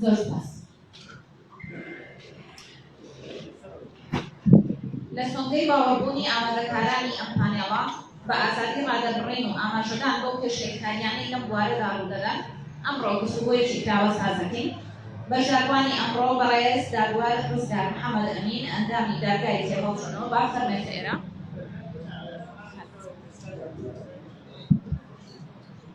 زۆر سپاس لە سۆنگەی باوەڕبوونی ئامادەکارانی ئەم پانێڵە بە ئازادی ڕادەربڕین و ئاماژەدان بەو پێشێلکاریانەی لەم بوارەدا ڕوودەدەن ئەمڕۆ گفتوگۆیەکی کراوە سازەکەین بەشداربووانی ئەمڕۆ بەڕێز دادوەر ڕزگار محەممەد ئەمین ئەندامی دادگای تێهەڵچوونەوە با فەرمێتە ئێرە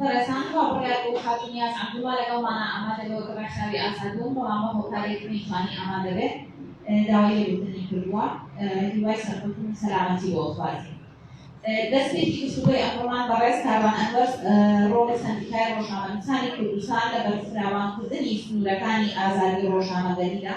بەڕێزان کاک بڕیار بۆ خاتون نیاز عەبدوڵڵا لەگەڵمانە ئامادە لەوە کە ڕەخساوی ئازاد بوون بەڵام بە هۆکارێکی نەیتوانی ئامادە بێت داوای لێبوردنی کردووە هیوای سەرکەوتن و سەلامەتی بۆ ئەخوازی دەستێکی گفتوگۆی ئەمڕۆمان بەڕێز کاروان ئەنوەر ڕۆڵی سەندیکای ڕۆژنامەنووسانی کوردستان لە بەرفراوانکردنی سنوورەکانی ئازادی ڕۆژنامەگەریدا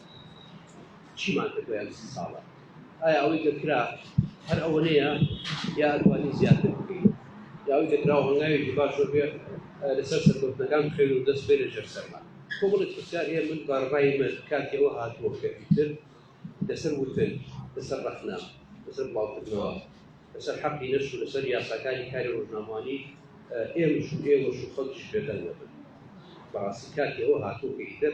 چیمان کرد بۆ یان سی ساڵە ئایا ئەوەی کە کرا هەر ئەوەنەیە یا ئەتوانی زیاتر بکەین یاوەی کە کراوە هەنگاوێکی باش بێ لەسەر سەرکەوتنەکان بخێن و دەست بێنە ژێر سەرمان تۆ بڵێ پرسیار هەیە من بارڕای من کاتی ئەوە هاتووە کە ئیتر لەسەر وتن لەسەر ڕەخنا لەسەر بڵاوکردنەوە لەسەر حەقی نەش و لەسەر یاساکانی کاری ڕۆژنامانی ئێمەش و ئێوەش و خەڵکیش بێدەنگەبن بەڕاستی کاتی ئەوە هاتووە کە ئیتر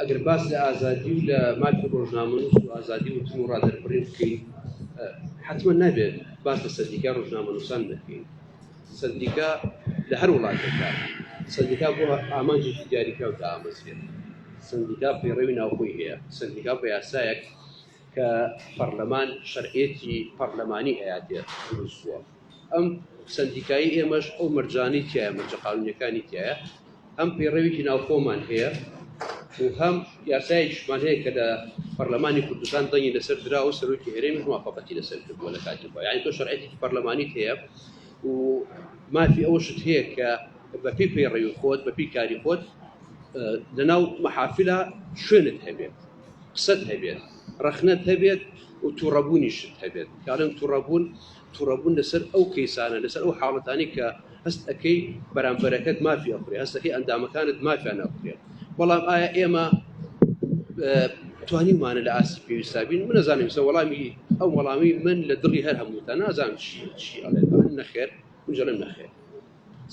ئەگەر باس لە ئازادی و لە مافی ڕۆژنامەنووس و ئازادی وتن و ڕادەربڕین بکەین حتممە نابێت باس لە سەردیکا ڕۆژنامەنووسان دەکەین سەردیکا لە هەر وڵاتێکدا سەردیکا بۆ ئامانجێکی دیاریکراو دامەزرێت سندیکا پەیڕەوی ناوخۆی هەیە سندیکا بە یاسایەک کە پەرلەمان شەرعەتی پەرلەمانی هەیاتێت دروستوە ئەم سەندیکایی ئێمەش ئەو مەرجانەی تایە مەرجە قانونیەکانی تایە هەم پەیڕەوێکی ناوخۆمان هەیە و هەم یاسایشمان هەیە کە لە پەرلەمانی کوردستان دەنگی لەسەر درا و سەرۆکی هەرێمی موافقەتی لەسەر کردووە لە کاتی خۆ یعنی تۆ شەرعەتی پەرلەمانی هەیە و مافی ئەوەشت هەیە کە بەپی پەیڕەوی خۆت بەپی کاری خۆت لەناو محافلە شوێنت هەبێت قسەت هەبێت ڕەخنەت هەبێت و تووڕەبوونیشت هەبێت کارن تووڕەبوون توڕەبوون لەسەر ئەو کەیسانە لەسەر ئەو حاڵەتانەی کە هەست ئەکەی بەرامبەرەکەت مافی ئەخورێ هەستەکەی ئەندامەکانت مافیان ئەخورێ بەڵام ئایا ئێمە توانیمانە لە ئاستی پێویستا بین من نەزانم سە وەڵامی ئەو وەڵامی من لە دڵی هەر هەمووتە نازانم چی چی ئەڵێ نەخێر منجلم نەخێر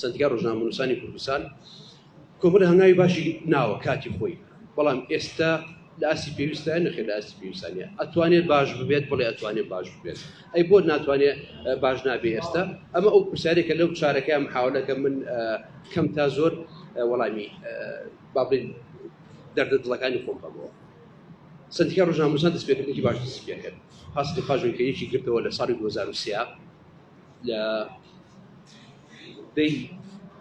سەندیکای ڕۆژنامەنووسانی کوردستان کۆمەڵە هەنگاوی باشی ناوە کاتی خۆی بەڵام ئێستا لە ئاستی پێویستە نەخێت لە ئاستی پێویستانە ئەتوانێت باش ببێت بڵێ ئەتوانێت باش ببێت ئەی بۆ ناتوانێت باش نابێ ئێستا ئەمە ئەو پرسیارێکە لەو چارەکەیان محاولەکە من کەم تا زۆر وەڵامی بابلین دەردە دڵەکانی خۆم بەمەوە سندیکا ڕژاموسان دەستپێکردێکی باش دەستپێکرد پاس دخواژن کە یەکی گرتەوە لە ساڵی 2023 لە دەی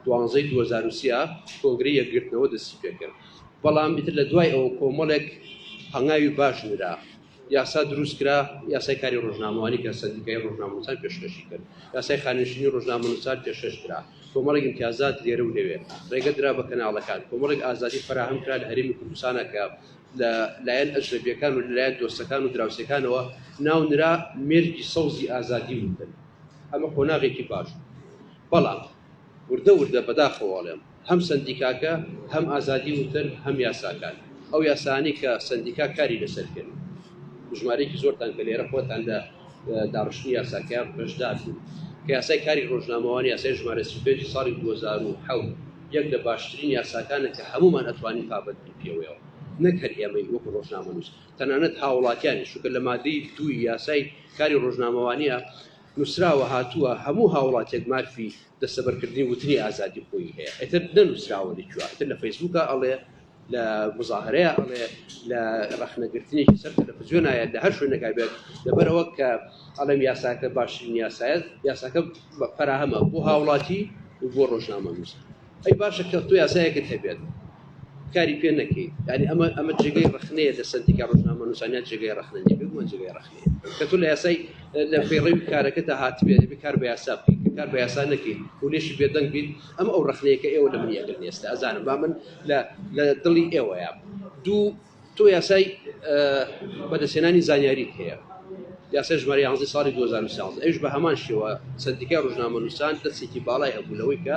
دوانزەی 2023 کۆنگری یەکگرتنەوە دەستی پێکرد بەڵام ئیتر لە دوای ئەوە کۆمەڵێک هەنگاوی باش نرا یاسا دروست کرا یاسای کاری ڕۆژنامەوانی کە سەندیکای ڕۆژنامەنووسان پێشکەشی کرد یاسای خانشینی ڕۆژنامەنووسان پێشکەش کرا کۆمەڵێک امتیازات لێرە و لەوێ ڕێگە درا بە کەناڵەکان کۆمەڵێک ئازادی فراهەم کرا لە هەرێمی کوردستانە کە لە لایەن ئەجنەبیەکان و لە لایەن دۆستەکان و دراوسێکانەوە ناونرا مێرگی سەوزی ئازادی ووردەن ئەمە قۆناغێکی باش بوو بەڵام وردە وردە بەداخەوە ئەڵێم هەم سەندیکاکە هەم ئازادی ووتەن هەم یاساکان ئەو یاسانی کە سەندیکا کاری لەسەر کرد ژمارەیەکی زۆرتان کە لێرە خۆتان لە داڕشتنی یاساکەیان بەشدار بوو کە یاسای کاری ڕۆژنامەوانی یاسای ژمارە 35 ساڵی 2007 یەک لە باشترین یاساکانە کە هەموومان ئەتوانین پابەند پێوەیەوە نەک هەر ئێمەی وەکو ڕۆژنامەنووس تەنانەت هاوڵاتیانی شوکە لە مادەی دووی یاسای کاری ڕۆژنامەوانە نووسراوە هاتووە هەموو هاوڵاتێک مافی دەستەبەرکردنی وتنی ئازادی خۆی هەیە ئەتر نەنووسراوە لەکواتر لە فەیسبووکە ئەڵێ لە مزاهرەیە ئەڵێ لە ڕخنەگرتنێکی سەر تەلەفزیۆنایە لە هەر شوێنەکە بێت لەبەرەوە کە ئەڵێم یاساکە باشترین یاسایەت یاساکە فەراهەمە بۆ هاوڵاتی و بۆ ڕۆژنامە نووسە ئەی باشە کە تۆ یاسایەکت هەبێت کاری پێ نەکەیت یعنی ئەمە ئەمە جێگەی ڕخنەیە لە سندیکا ڕژنامە نووسانیان جێگەی ڕخنە نیە بگومە جێگەی ڕخنەیە کە تۆ لە یاسای لە فێڕی کارەکە تا هاتبێت بکار بە یاسا بکەیت کار بە یاسا نەکەیت و لێشی بێدەنگ بیت ئەم ئەو ڕخنەیەکە ئێوە لە منیەکە نێستە ئەزانم با من لە دڵی ئێوەیە دوو تۆ یاسای بەدەستهێنانی زانیاریت هەیە، یاسای ژمارە یانزەی ساڵی دوو هەزار و سیانزە، ئەویش بە هەمان شێوە سەندیکای ڕۆژنامەنووسان دەستێکی باڵای هەبوو لەوەی کە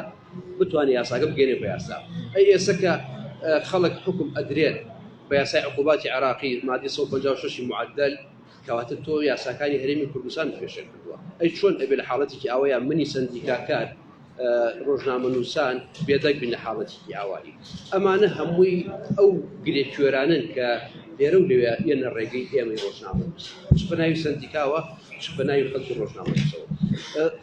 بتوانێت یاساکە بگەیەنێت بە یاسا. ئەی ئێستا کە خەڵک حوکم ئەدرێن بە یاسای عقوباتی عێراقی، مادەی سەد و پەنجا و شەش ی معدل، کەواتە تۆ یاساکانی هەرێمی کوردستان پێشێل کردووە ئەی چۆن ئەبێ لە حاڵەتێکی ئەوەیە منی سندیکاکار ڕۆژنامە نووسان بێدەک بین لە حاڵەتێکی ئاوایی ئەمانە هەمووی ئەو گرێ کوێرانن کە لێرە و لەوێ یەنە ڕێگەی ئێمەی ڕۆژنامە چ بەناوی سندیکاوە چ بەناوی خەڵکی ڕۆژنامەسەوە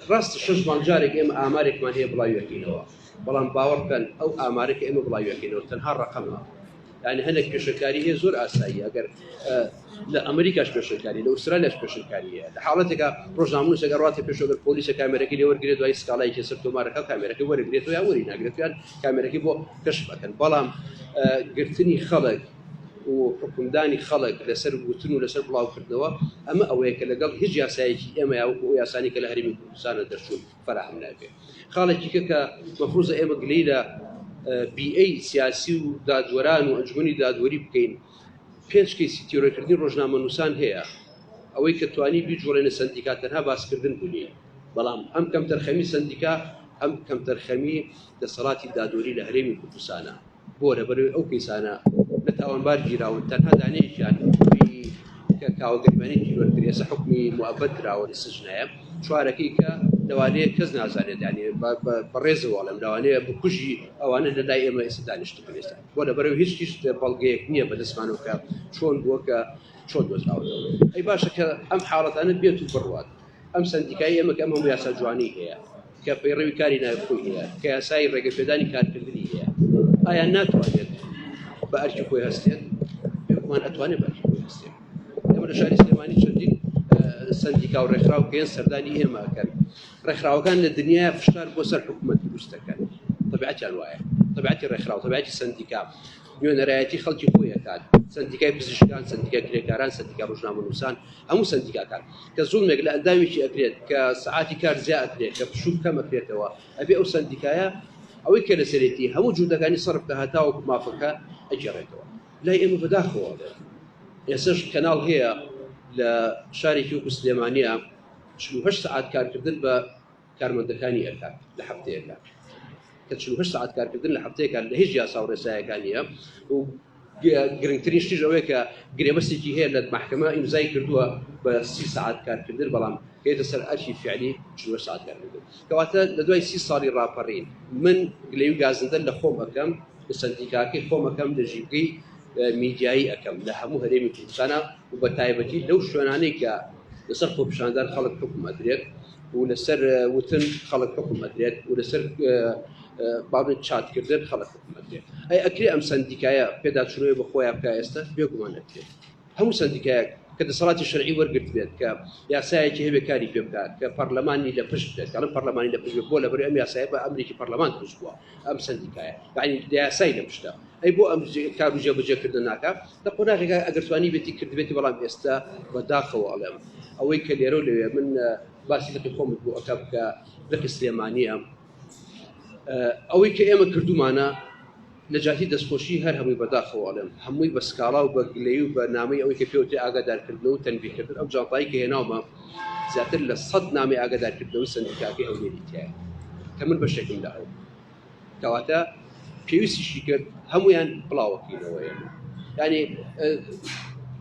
ڕاست شش مانجارێک ئێمە ئامارێکمان هەیە بڵاویەکەینەوە بەڵام باوەڕکەن ئەو ئامارێکە ئێمە بڵاویەکەینەوە تەنها ڕقەمە یانی هەندێک پێشەکاری هەیە زۆر ئاسایی ئەگەر لە ئەمریکاش پێشەکاری لە ئوسترالیاش پێشەکاری هەیە لە حاڵەتێکە ڕۆژناموسێک ڕاتە پێشەگەر پۆلیسە کامێرەکەی لێ وەرگێت دوای سکاڵای کێسەر تۆمارەکە کامێرەکەی وەرگێت یا وەری ناگرێتیان کامێرەکەی بۆ کەش بەکەن بەڵام گرتنی خەڵک و حکومدانی خەڵک لەسەر وتن و لەسەر بڵاوکردنەوە ئەمە ئەوەیە کە لەگەڵ هیچ یاسایەکی ئێمە یاوەکو یاسانی کە لە هەرمی کوردستانە دەرچوون فەراهەم ناکرێ خاڵێکی کە کە مەفروزە ئێمە گلەی لە بیئەی سیاسی و دادوەران و ئەنجومی دادوەری بکەین پێنج کەیسی تیرۆرکردنی ڕۆژنامە نووسان هەیە ئەوەی کە توانی بیجوڵێنە سندیکا تەنها باسکردن بوونی بەڵام ئەم کەم تەرخەمی سندیکا ئەم کەم تەرخەمی دەسەڵاتی دادوەری لە هەرێمی کوردستانە بۆ لەبەرەوەی ئەو کەیسانە لە تاوانبار گیراون تەنها دانەیەکیان حکومی کە کاوە گەرمانی تیرۆر کرد ئێستا حکومی موەبەت دراوە لە سجنایە چوارەکەی کە لەوانەیە کەس نازانێت دانێ بەڕێزەواڵم لەوانەیە بکوژی ئەوانە لە لای ئێمە ئێستا دانیشت بێستا بۆ لە بەرەو هیچ هیچ بەڵگەیەک نییە بە دەستمانەوە کە چۆن بووە کە چۆن دۆزراوەەوە ئەی باشە کە ئەم حاڵەتانە بێت و بڕوات ئەم سندیکای ئێمە کە ئەم هەموو یاسا جوانی هەیە کە پەیڕەوی کاری ناوی خۆی هەیە کە یاسایی ڕێگەپێدانی کارکردنی هەیە ئایا ناتوانێت بە ئەرکی خۆی هەستێت پێمان ئەتوانێت بە ئەرکی خۆی هەستێت ئێمە لە شاری سلێمانی چەندین سندیکا و ڕێکخراو پێێن سەردانی ئێمە ئەکەن ڕێکخراوەکان لە دنیای فشار بۆ سەر حکوومەت دروستەکەن طبعەتیان وایە طبعەتی ڕێکخراو طبعەتی سندیکا نوێنەرایەتی خەڵکی خۆی ئەکات سەندیکای پزیشکان سەندیکای کرێکاران سەندیکا ڕۆژنامەنووسان هەموو سەندیکاکان کە زوڵمێک لە ئەندامێکی ئەکرێت کە سعاتی کار زیا ئەکرێت کە پشوو کەم ئەکرێتەوە ئەبێ ئەو سەندیکایە ئەوەی کە لەسەرێتی هەموو جوودەکانی سەرف کە هەتاوەکو مافەکە ئەگێڕێتەوە لای ئێمە بەداخەوە ئێسش کەناڵ هەیە لە شارێکی وەکو سلێمانیە چل و هەشت سعات کارکردن بە کارمەندەکانی ئەکات لە هەفتەیەکە کە چل و هەشت سەعات کارکردن لە هەفتەیەکە لە هیچ یاسا و ڕێسایەکان نییە و گرنگترین شتیش ئەوەیە کە گرێبەستێکی هەیە لە مەحکەمە ئیمزای کردووە بە سی سعات کارکردن بەڵام هێتە سەر ئەرکی فعلی چوە سعات کارکردن کەواتە لە دوای سی ساڵی ڕاپەڕین من گلەی و گازندەر لە خۆم ئەەکەم لە سندیکاکەی خۆم ئەەکەم لە ژیبگەی میدیایی ئەەکەم لە هەموو هەرێمی کوردستانە و بە تایبەتی لەو شوێنانەی کە لەسەر خۆپیشاندان خەڵک حکومەدرێت و لەسەر وتن خەڵک حکم ئەدرێت و لەسەر بابێت چاتکردن خەڵک حکم ئەدرێت ئەی ئەکرێ ئەم سندیکایە پێداچوونەوەی بە خۆیان بکە ئێستا بێگومان ئەکرێت هەموو سندیکایەک کە دەسەڵاتی شەرعی وەرگرت بێت کە یاسایەکی هەبێ کاری پێ بکات کە پەرلەمانی لە پشت بێت کەڵم پەرلەمانی لە پشت بۆ لەبەر ئەم یاسایە بە ئەمریکی پەرلەمان دروست بووە ئەم سەندیکایە یعنی یاسای لە پشتە ئەی بۆ ئەم کار و جێبەجێکردن ناکە لە قۆناغێکا ئەگەر توانی بێتی کردبێتی بەڵام ئێستا بەداخەوە ئەڵێم ئەوەی کە لێرە و لەوێ من باسی لەقی خۆمت بۆ ئەکا بکە لەقی سلێمانیە ئەوەی کە ئێمە کردومانە نەجاتی دەستخۆشی هەر هەمووی بەداخەوە ئەڵێم هەمووی بە سکاڵا و بە گلەی و بە نامەی ئەوەی کە پێوتی ئاگادارکردن و تەنبیکردن ئەو جاپایی کە هێناومە زیاتر لە سەد نامەی ئاگادارکردنەوەی سەندیکاکەی هەولێری تیایە کە من بەشێکم لە ئەو کەواتە پێویستیشی کرد هەمویان بڵاوەکەینەوە ئێمە ینی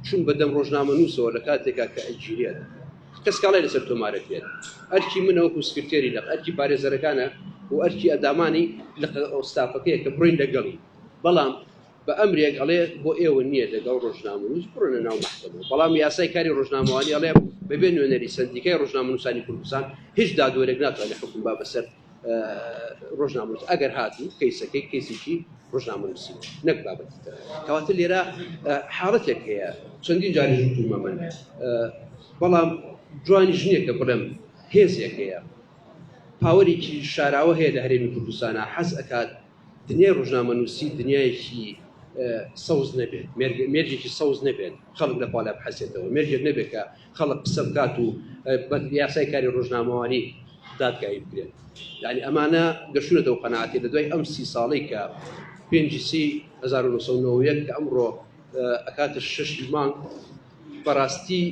چون بەدەم ڕۆژنامە نووسەوە لە کاتێکا کە ئەگیرێت کەس کاڵی لەسەر تۆمارەت بێت ئەرکی منەوەکو سکرتێری لە ئەرکی پارێزەرەکانە و ئەرکی ئەدامانی لە ئەوستافەکەیە کە بڕین لەگەڵی بەڵام بە ئەمرێک ئەڵێ بۆ ئێوە نییە لەگەڵ ڕۆژنامەنووس بڕۆنە ناو مەحکەمە بەڵام یاسای کاری ڕۆژنامەوانی ئەڵێ بەبێ نوێنەری سندیکای ڕۆژنامەنووسانی کوردستان هیچ دادوەرێک ناتوانێت حکم با بەسەر ڕۆژنامەنووس ئەگەر هاتی کەیسەکەی کەیسێکی ڕۆژنامەنووسی نەک بابەتی کەواتە لێرە حاڵەتێک هەیە چەندین جاری ژوومە من بەڵام جوانی ژنێکە بڵێم هێزێک هەیە پاوەێکی شاراوە هەیە لە هەرێمی کوردستانە حەز ئەکات دنیای ڕوژنامەنووسی دنیایەکی سەوز نەبێت مێرجێکی سەوز نەبێت خەڵک لە پالا بحەسێتەوە مێرجێک نەبێت کە خەڵک قسە بکات و یاسای کاری ڕۆژنامەوانی دادگایی بکرێت یعنی ئەمانە گەشتونەتە و قەنعاتی لە دوای ئەم سی ساڵی کە پێنجسی 1990 کە ئەمڕۆ ئەکاتە شش مانگ بەڕاستی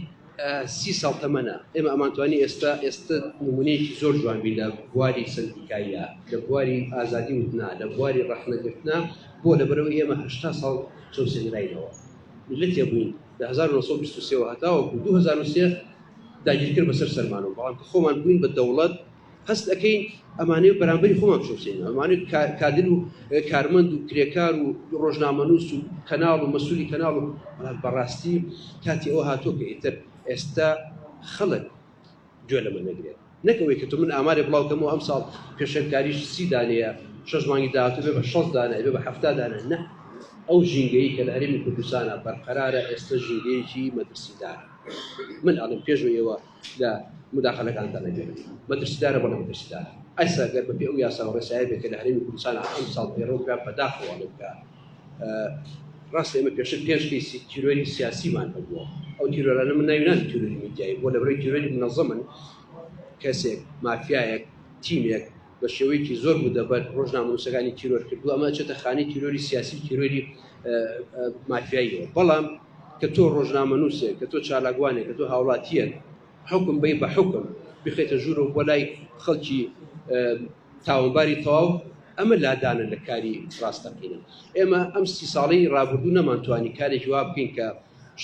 سی ساڵ تەمەنە ئێمە ئەمانتوانی ئێستا ئێستا نمونەیەکی زۆر جوان بی لە بواری سندیکاییە لە بواری ئازادی وتنا لە بواری ڕەخنەگرتنا بۆ لە بەرەوەی ئێمە هەشتا ساڵ چەوسێنراینەوە میلەتێ بووین لە 1920 هەتاوەکو 2023 داگیرکەر بەسەر سەرمانەوە بەڵام کە خۆمان بووین بە دەوڵەت هەست ئەکەین ئەمانەی و بەرامبەری خۆمان بشوسین ئەمانەی کادر و کارمەند و کرێکار و ڕۆژنامەنووس و کەناڵ و مەسوولی کەناڵ و بەڕاستی کاتی ئەوە هاتۆ کە ئیتر ئێستا خەڵک گوێ لەمە نەگرێت نەکەوەی کە تو من ئامارێ بڵاوکەمەوە ئەم ساڵ پێشێنکاریش سی دانەیە شەش مانگی داهاتو بێ بە شەست دانە بێ بە هەفتا دانە نە ئەو ژینگەی کە لە هەرێمی کوردستانە بەرقەرارە ئێستا ژینگەیەکی مەترسیدار من ئەڵم پێش و ئێوە لە موداخەلەکان دەڕێنێت مەترسیدارە بەڵێ مەترسیدارە ئەسا گەر بەپێ ئەو یاسا و ڕێسایە بێت کە لە هەرێمی کوردستان ئەم ساڵ پێڕەو کرا بەداخەوە لە بکە ڕاست ئێمە پێشتر پێنج کەیسی تیرۆری سیاسیمان هەبووە ئەو تیرۆرانە من ناوی نان تیرۆری میدیایی بۆ لە بەرەی تیرۆری منەظەمن کەسێک مافیایەک تیمێک بە شێوەیەکی زۆر مودەبەر ڕۆژنامەنووسەکانی تیرۆر کردووە ئەمە ئەچێتە خانەی تیرۆری سیاسی و تیرۆری مافیاییەوە بەڵام کە تۆ ڕۆژنامەنووسێک کە تۆ چالاکوانێک کە تۆ هاوڵاتیەن حکم بی بە حکم بخێتە ژوورەوە بۆ لای خەڵکی تاوانباری تەواو ئەمە لادانە لە کاری ڕاستەقینە ئێمە ئەم سی ساڵی ڕابردوو نەمانتوانی کارێکی وا بکەین کە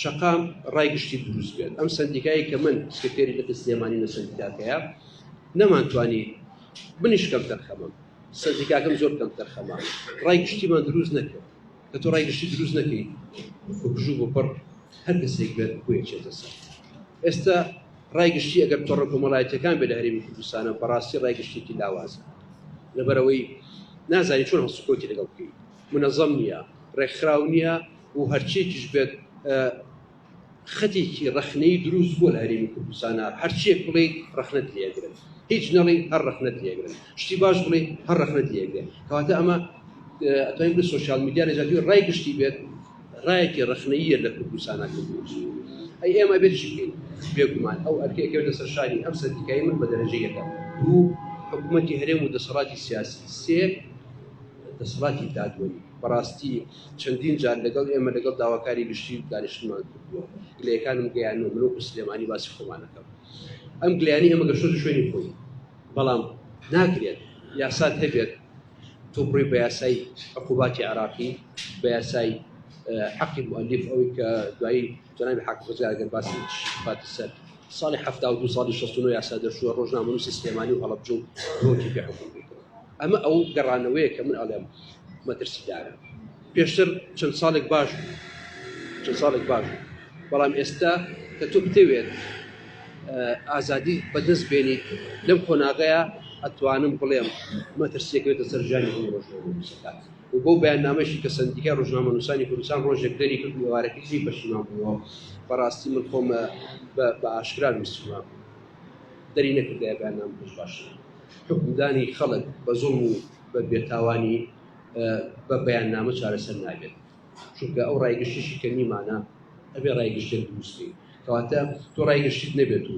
شەقام ڕای گشتی دروست بێت ئەم سندیکایی کە من سکرتێری لەتی سلێمانی لە سندیکاکەیە نەمانتوانی منیش کەم تەرخەمەم سندیکاکەم زۆر کەم تەرخەمە ڕای گشتیمان دروست نەکرد کە تۆ ڕای گشتی دروست نەکەی بکژوو بۆ پڕ هەر کەسێک بێت بۆیەچێتە سەر ئێستا ڕای گشتی ئەگەر تۆڕە کۆمەڵایەتەکان بێ لە هەرێمی کوردستانە بەڕاستی ڕای گشتێکی لاوازە لەبەرەوەی نازانی چۆن هەڵسوکەوتی لەگەڵ بکەیت منەزەم نیە، ڕێکخراو نیە و هەرچیەکیش بێت خەتێکی ڕەخنەیی دروست بووە لە هەرێمی کوردستانا، هەرچیەک بڵێی ڕەخنەت لێ ئەگرن، هیچ نەڵێی هەر ڕەخنەت لێ ئەگرن، شتی باش بڵێی هەر ڕەخنەت لێ ئەگرێ، کەواتە ئەمە ئەتوانین بڵێین سۆشیال میدیا لە جیاتی ڕای گشتی بێت ڕایەکی ڕەخنەییە لە کوردستانا کردووە. ئەی ئێمە ئەبێت چی بکەین؟ بێگومان ئەو ئەرکە ئەکەوێتە سەر شانی ئەم سەندیکای من بە دەرەجە یەکەم، دوو حکومەتی هەرێم و دەسەڵاتی سیاسی، سێ. دەسەڵاتی دادوەری بەڕاستی چەندین جار لەگەڵ ئێمە لەگەڵ داواکاری گشتی دانیشتمان کردووە گلەکانم گەیانەوە مرۆک و سلێمانی باسی خۆمانەکەم ئەم گلیانی ئێمە گەشتۆ شوێنی خۆی بەڵام ناکرێت یاسات هەبێت تۆپڕی بە یاسای عقوباتی عراقی بە یاسای حەقی مؤلف ئەوەی کە دوایی جەنابی حاکم خزێ ئەگەر باسی پاتی سەر ساڵی حەفتا و دو ساڵی شەست و نۆ یاسا دەرچووە ڕۆژنامەنووسی سلێمانی و هەڵەبجە و ڕۆکی پێ حکوم بکرد ئەمە ئەو گەڕانەوەیە کە من ئەڵێم مەترسیدارە پێشتر چەند ساڵێک باش چەند ساڵێک باش بەڵام ئێستا کە تۆ بتەوێت ئازادی بەدەست بێنی لەم قۆناغەیە ئەتوانم بڵێم مەترسیەکەوێتە سەرژانی هەم ڕۆژ و بەو بەیاننامەیشی کە سەندیکای ڕۆژنامەنووسانی کوردستان ڕۆژێک دەریکرد و ئێوارەکەی جێی پەشیمان بووەوە، بەڕاستی من خۆم بە بە ئاشکرا نووسیومە، دەری نەکردایە بەیاننامەکەش باشترە. حوکمدانی خەڵک بە زوڵم و بە بێتاوانی بە بەیاننامە چارەسەر نابێت، چونکە ئەو ڕای گشتیشی کە نیمانە ئەبێ ڕای گشتێک دروست بکەین، کەواتە تۆ ڕای گشتیت نەبێت و،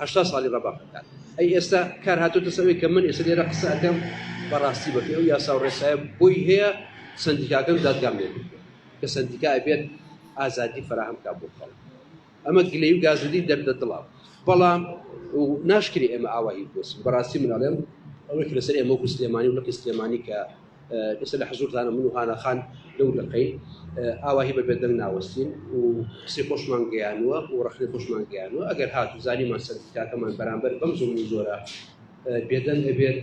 هەشتا ساڵی ڕەبەق ئەکات ئەی ئێستا کار هاتۆتە سەر ئەوەی کە من ئێستا لێرە قسە ئەکەم بە ڕاستی بەپێی ئەو یاسا و ڕێسایە بۆی هەیە سەندیکاکەم دادگام لێ بکرێت کە سەندیکا ئەبێت ئازادی فراهەم بکات بۆ خەڵک ئەمە گلەی و گازولی دەردە دڵە بەڵام ناشکری ئێمە ئاوایی بۆسم بەڕاستی منەڵێم ئەوەی لەسەر ئێمە وەکو سلێمانی و لقی سلێمانی کە ئێستا لە حزوورتانە من و هانا خان لەو دەقەی ئاواهی بە بێدەنگ ناوەستین و قسەی خۆشمان گەیانوە و ڕخنەی خۆشمان گەیانوە ئەگەر هات و زانیمان سەرتاکەمان بەرامبەر بەم زۆر و زۆرە بێدەنگ دەبێت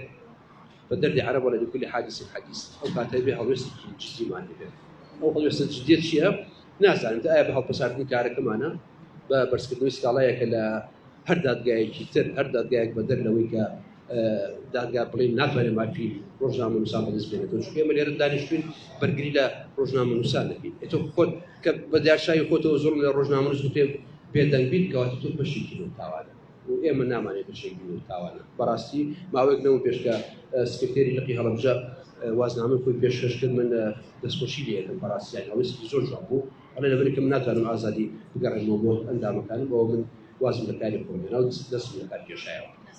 بە دەردی عرب ولا لكل حادث حديث ئەو کاتە بێ هەڵوێست جدیمان دەبێت ئەو هەڵوێستە جدیت چییە نازانم ئایا بە هەڵپەساردنی کارەکەمانە بە بەرزکردنەوەی سکاڵایەکە لە هەر دادگایەکی تر هەر دادگایەک بەدەر لەوەی کە دادگا بڵێ ناتوانێت مافی ڕۆژنامە نووسان بەدەست بێنێت چ ئێمە لێرە دانیشتوین بەرگری لە ڕۆژنامە نووسان دەکەین ئەتۆ خۆت کە بە داشایی خۆتەوە زۆر لە ڕۆژنامە نووس پێ بێدەنگ بیت کەواتە تۆ بەشێکی تاوانە و ئێمە نامانێت بەشێکی تاوانە بەڕاستی ماوەێک نەوە پێشکە سکرتێری لقی هەڵبژە وازنامە خۆی پێشکەش کرد من دەستخۆشی لەکەم بەڕاستیان ئەوەستی زۆر جوان بوو ئەڵێ لەبرکم ناتوانم ئازادی بگەڕێمەوە بۆ ئەندامەکانم بەوە من وازم لە کاری خۆم دەست لە کار کێشایەوە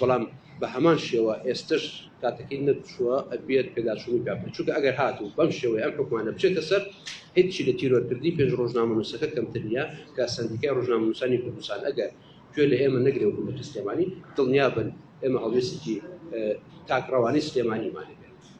بەڵام بە هەمان شێوە ئێستەش کاتەکەی نەچووە ئەبێت پێداچوونی پێ بکەن چونکە ئەگەر هاتوو بەم شێوەی ئەم حکومانە بچێتە سەر هیچی لە تیرۆرکردنی پێنج ڕۆژنامەنووسەکە کەمتر نییە کە سندیکای ڕۆژنامەنووسانی کوردستان ئەگەر گوێ لە ئێمە نەگرێ و بە سلێمانی دڵنیا بن ئێمە هەڵوێستێکی تاکڕەوانی سلێمانیمانێ